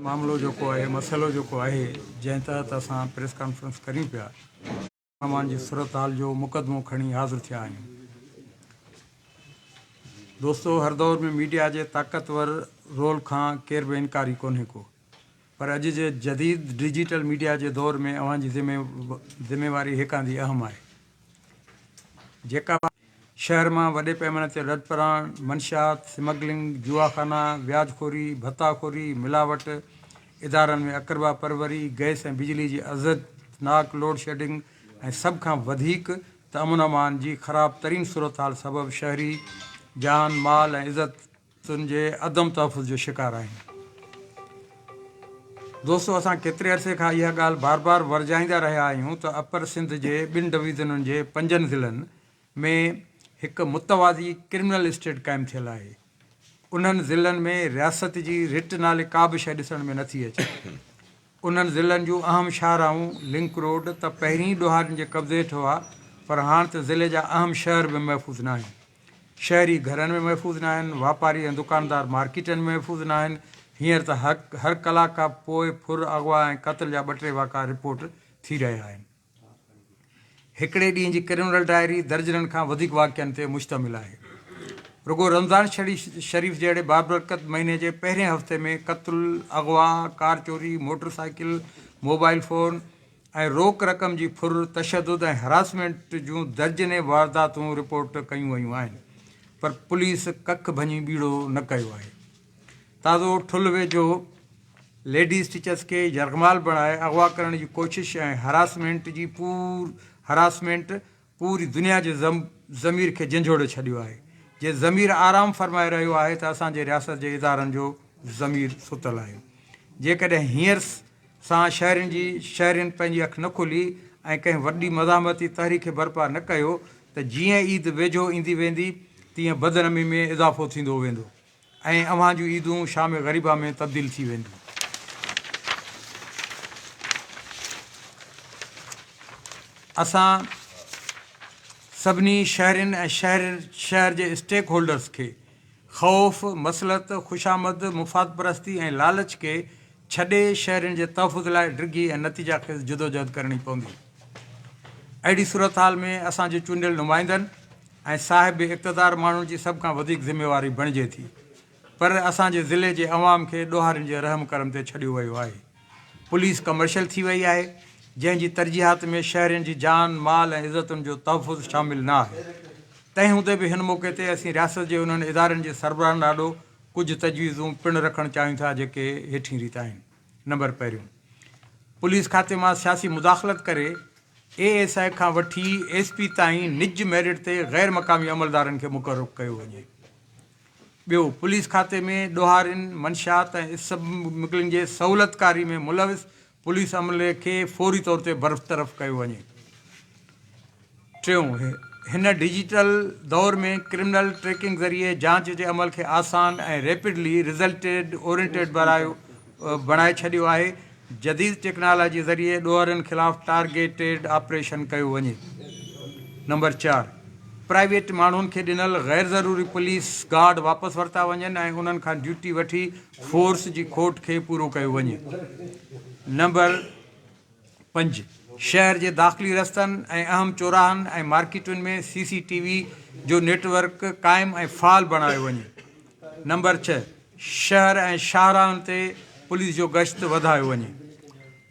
معاملو جيڪو آهي مسئلو جيڪو آهي جنهن تحت اسان پريس ڪانفرنس ڪريون پيا امان جي صورتحال جو مقدمو کڻي حاضر ٿيا آهيون دوستو هر دور ۾ ميڊيا جي طاقتور رول کان ڪير به انڪاري ڪونهي ڪو پر اڄ جي جديد ڊجيٽل ميڊيا جي دور ۾ اوهان جي ذميواري هيڪاندي اهم آهي جيڪا شهر مان وڏي پيماني تي رد پراڻ، منشيات، سمگلنگ، جوا خانا، وياج خوري، ڀتا خوري، ملاوٽ، ادارن ۾ اقربا پروري، گئس ۽ بجلي جي اذيتناڪ لوڊ شيڊنگ ۽ سڀ کان وڌيڪ ته امن امان جي خراب ترين صورتحال سبب شهري جان، مال ۽ عزت تن جي عدم تحفظ جو شڪار آهن. دوستو اسان ڪيتري عرصي کان اها ڳالهه بار بار ورجائيندا رهيا آهيون ته اپر سنڌ جي ٻن ڊويزنن جي پنجن ضلعن ۾ هڪ متوازي ڪرمنل اسٽيٽ قائم ٿيل آهي. انهن ضلعن ۾ رياست جي رٽ نالي ڪا به شيء ڏسڻ ۾ نٿي اچي. انهن ضلعن جون اهم شاهراهون، لنڪ روڊ، ته پهرين ئي ڏوهارين جي قبضي هيٺ هئا پر هاڻ ته ضلعي جا اهم شهر به محفوظ ناهن. شهري گهرن ۾ محفوظ ناهن، واپاري ۽ دڪاندار مارڪيٽن ۾ محفوظ ناهن، هينئر ته هر ڪلاڪ کان پوء ڦر، اغوا ۽ قتل جا ٻه ٽي واقعا رپورٽ ٿي رهيا آهن. هڪڙي ڏينهن جي ڪرمنل ڊائري درجنن کان وڌيڪ واقعن تي مشتمل آهي. رڳو رمضان شريف جهڙي بابرڪت مهيني جي پهرين هفتي ۾ قتل، اغوا، ڪار چوري، موٽر سائيڪل، موبائل فون ۽ روڪ رقم جي ڦر، تشدد ۽ هراسمينٽ جون درجنين وارداتون رپورٽ ڪيون ويون آهن پر پوليس ڪک ڀڃي ٻيڙو نه ڪيو آهي. تازو ٺل ويجهو ليڊيز ٽيچرز کي يرغمال بڻائي اغوا ڪرڻ جي ڪوشش ۽ هراسمينٽ جي پور هراسمينٽ پوري دنيا جي ضمير کي جنجهوڙي ڇڏيو آهي جي ضمير آرام فرمائي رهيو آهي ته اسان جي رياست جي ادارن جو ضمير ستل آهي جيڪڏهن هينئر سان شهرين جي شهرين پنهنجي اک نه کولي ۽ ڪنهن وڏي مزاحمتي تحريڪ برپا نه ڪيو ته جيئن عيد ويجهو ايندي ويندي تيئن بدنمي ۾ اضافو ٿيندو ويندو. ۽ اوهان جون عيدون شام غريبه ۾ تبديل ٿي وينديون. اسان سڀني شهرين ۽ شهر شهر جي اسٽيڪ هولڊرز کي خوف، مصلحت، خوشامد، مفاد پرستي ۽ لالچ کي ڇڏي شهرين جي تحفظ لاء ڊگهي ۽ نتيجا خيز جدوجهد ڪرڻي پوندي. اهڙي صورتحال ۾ اسان جي چونڊيل نمائندن، ۽ صاحب اقتدار ماڻهن جي سڀ کان وڌيڪ ذميواري بڻجي ٿي پر اسان جي ضلعي جي عوام کي ڏوهارين جي رحم ڪرم تي ڇڏيو ويو آهي پوليس ڪمرشل ٿي وئي آهي جنهن جي ترجيحات ۾ شهرين جي جان مال ۽ عزتن جو تحفظ شامل نه آهي تنهن هوندي به هن موقعي تي اسين رياست جي انهن ادارن جي سربراهن آڏو ڪجهه تجويزون پڻ رکڻ چاهيون ٿا جيڪي هيٺين ريت آهن. نمبر پهريون، پوليس کاتي مان سياسي مداخلت ڪري اي ايس آء کان وٺي ايس پي تائين نج ميرٽ تي غير مقامي عملدارن کي مقرر ڪيو وڃي. ٻيو، پوليس کاتي ۾ ڏوهارين، منشيات ۽ اسمگلنگ جي سهولتڪاري ۾ ملوث پوليس عملي کي فوري طور تي برطرف ڪيو وڃي. ٽيون، هن ڊجيٽل دور ۾ ڪرمنل ٽريڪنگ ذريعي جاچ جي عمل کي آسان ۽ ريپڊلي رزلٽ اورينٽيڊ بڻائي ڇڏيو آهي، جديد ٽيڪنالاجي ذريعي ڏوهارين خلاف ٽارگيٽيڊ آپريشن ڪيو وڃي. نمبر چار، پرائيويٽ ماڻهن کي ڏنل غير ضروري پوليس گارڊ واپس ورتا وڃن ۽ انهن کان ڊيوٽي وٺي فورس جي کوٽ کي پورو ڪيو وڃي. نمبر. پنج، شهر جي داخلي رستن ۽ اهم چوراهن ۽ مارڪيٽن ۾ سي سي ٽي وي جو نيٽ ورڪ قائم ۽ فعال بڻايو وڃي. نمبر ڇهه، شهر ۽ شاهراهن تي پوليس جو گشت وڌايو وڃي.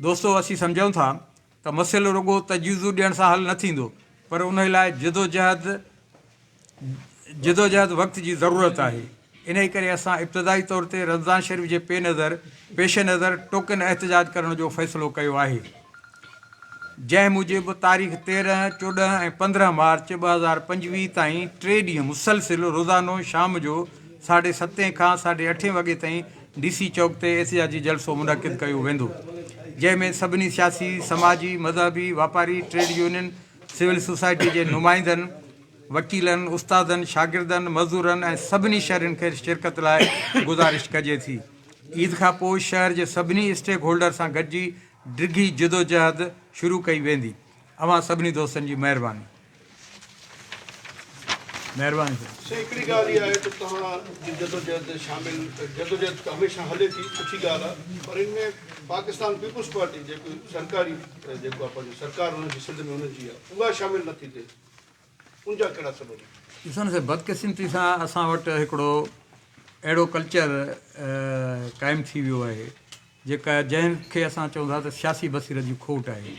دوستو اسين سمجهون ٿا ته مسئلو رڳو تجويزون ڏيڻ سان حل نه ٿيندو پر انهي لاء جدوجهد جدوجهد وقت جي ضرورت آهي، انهي ڪري اسان ابتدائي طور تي رمضان شريف جي پي نظر پيش نظر ٽوڪن احتجاج ڪرڻ جو فيصلو ڪيو آهي، جنهن موجب تاريخ تيرهن، چوڏهن ۽ پندرهن مارچ ٻه هزار پنجويهه تائين ٽي ڏينهن مسلسل روزانو شام جو ساڍي ستين کان ساڍي اٺين وڳي تائين ڊي سي چوڪ تي احتجاجي جلسو منعقد ڪيو ويندو، جنهن ۾ سڀني سياسي، سماجي، مذهبي، واپاري، ٽريڊ يونين، سول سوسائٽي جي نمائندن، وڪيلن، استادن، شاگردن، مزدورن ۽ سڀني شھرين کي شرڪت لاء گذارش ڪجي ٿي. عيد کان پوء شھر جي سڀني اسٽيڪ هولڊر سان گڏجي ڊگھي جدوجهد شروع ڪئي ويندي. اوهان سڀني دوستن جي مهرباني. مهرباني سر. سر هڪڙي ڳالهه اها آهي ته توهان جي جدوجهد شامل جدوجهد ته هميشه هلي ٿي سٺي ڳالهه آهي پر ان ۾ پاڪستان پيپلز پارٽي جيڪو سرڪاري ته جيڪو آهي پنهنجي سرڪار هن جي سنڌ ۾ هن جي آهي اها شامل نه ٿي ٿئي ان جا ڪهڙا سبب آهن؟ ڏسو نه سر بدقسمتي سان اسان وٽ هڪڙو اهڙو ڪلچر قائم ٿي ويو آهي جيڪا جنهن کي اسان چئون ٿا ته سياسي بصيرت جي کوٽ آهي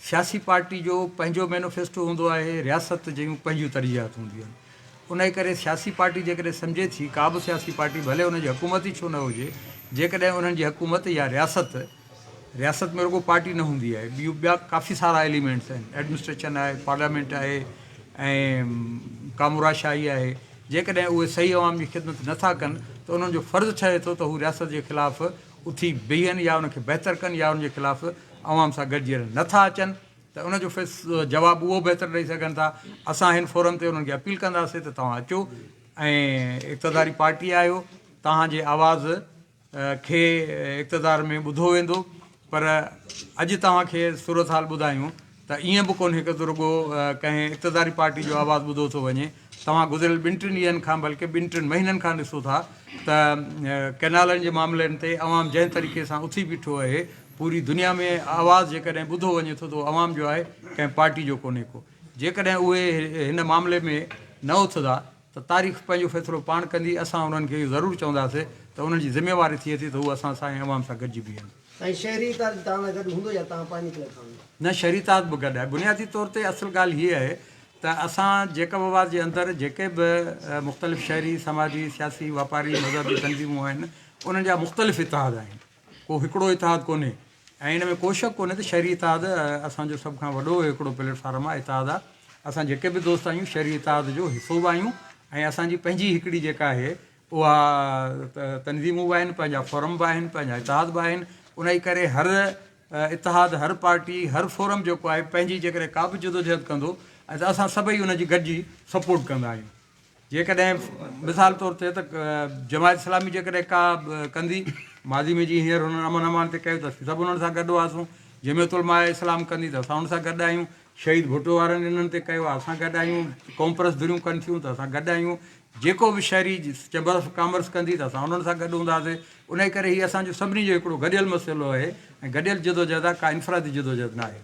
سياسي پارٽي جو پنهنجو مينوفيسٽو هوندو آهي رياست جون پنهنجون ترجيحات هونديون آهن انهي ڪري سياسي پارٽي جيڪڏهن سمجهي ٿي ڪا به سياسي پارٽي ڀلي ان جي حڪومت ئي ڇو نه هجي جيڪڏهن انهن جي حڪومت يا رياست رياست ۾ رڳو پارٽي نه هوندي آهي ٻيون ٻيا ڪافي سارا ايليمينٽس آهن ايڊمنسٽريشن آهي پارليامينٽ آهي ۽ ڪامورا شاهي آهي جيڪڏهن اهي صحيح عوام جي خدمت نه ٿا ڪن ته انهن جو فرض ٺهي ٿو ته هو رياست جي خلاف اٿي بيهن يا ان کي بهتر ڪن يا ان جي خلاف عوام سان گڏجي رهن نه ٿا اچن ته ان جو جواب اهو بهتر ڏئي سگهن ٿا اسان هن فورم تي انهن کي اپيل ڪنداسين ته توهان اچو ۽ اقتداري پارٽي آهيو توهان جي آواز کي اقتدار ۾ ٻڌو ويندو پر اڄ توهان کي صورتحال ٻڌايون ته ائين به ڪونهي ته رڳو ڪنهن اقتداري پارٽي جو آواز ٻڌو ٿو وڃي توهان گذريل ٻن ٽن ڏينهن کان بلڪه ٻن ٽن مهينن کان ڏسو ٿا ته ڪئنالن جي معاملن تي عوام جنهن طريقي سان اٿي بيٺو اهي پوري دنيا ۾ آواز جيڪڏهن ٻڌو وڃي ٿو ته عوام جو آهي ڪنهن پارٽي جو ڪونهي ڪو جيڪڏهن اهي هن معاملي ۾ نه اٿدا ته تاريخ پنهنجو فيصلو پاڻ ڪندي، اسان انهن کي اهو ضرور چونداسين ته انهن جي ذميواري ٿئي ٿي ته هو اسان سان ۽ عوام سان گڏجي بيهن. سائين شهري اتحاد توهان سان گڏ هوندو يا توهان پنهنجي طرف سان ويندا؟ نه شهري اتحاد به گڏ آهي. بنيادي طور تي اصل ڳالهه هيء آهي ته اسان جيڪب آباد جي اندر جيڪي به مختلف شهري، سماجي، سياسي، واپاري، مذهبي تنظيمون آهن انهن جا مختلف اتحاد آهن. ڪو هڪڙو اتحاد ڪونهي ۽ ان ۾ ڪو شڪ ڪونهي ته شهري اتحاد اسان جو سڀ کان وڏو هڪڙو پليٽ فارم آهي اتحاد آهي اسان جيڪي به دوست آهيون شهري اتحاد جو حصو به آهيون ۽ اسان جي پنهنجي هڪڙي جيڪا آهي اها تنظيمون به آهن پنهنجا فورم به آهن پنهنجا اتحاد به آهن ان جي ڪري هر اتحاد هر پارٽي هر فورم جيڪو آهي پنهنجي جيڪڏهن ڪا به جدوجهد ڪندو ۽ اسان سڀئي ان جي گڏجي سپورٽ ڪندا آهيون جيڪڏهن مثال طور ٿئي ته جماعت اسلامي جيڪڏهن ڪا ڪندي، ماضي ۾ جيئن هينئر هنن امن امان تي ڪيو ته اسين سڀ انهن سان گڏ هئاسون، جمعيت علماء اسلام ڪندي ته اسان ان سان گڏ آهيون، شهيد ڀٽو وارن انهن تي ڪيو آهي اسان گڏ آهيون، ڪومپرس ڌريون ڪن ٿيون ته اسان گڏ آهيون، جيڪو به شهري چيمبر آف ڪامرس ڪندي ته اسان انهن سان گڏ هونداسين، انهي ڪري هي اسان جو سڀني جو هڪڙو گڏيل مسئلو آهي ۽ گڏيل جدوجهد آهي ڪا انفرادي جدوجهد ناهي.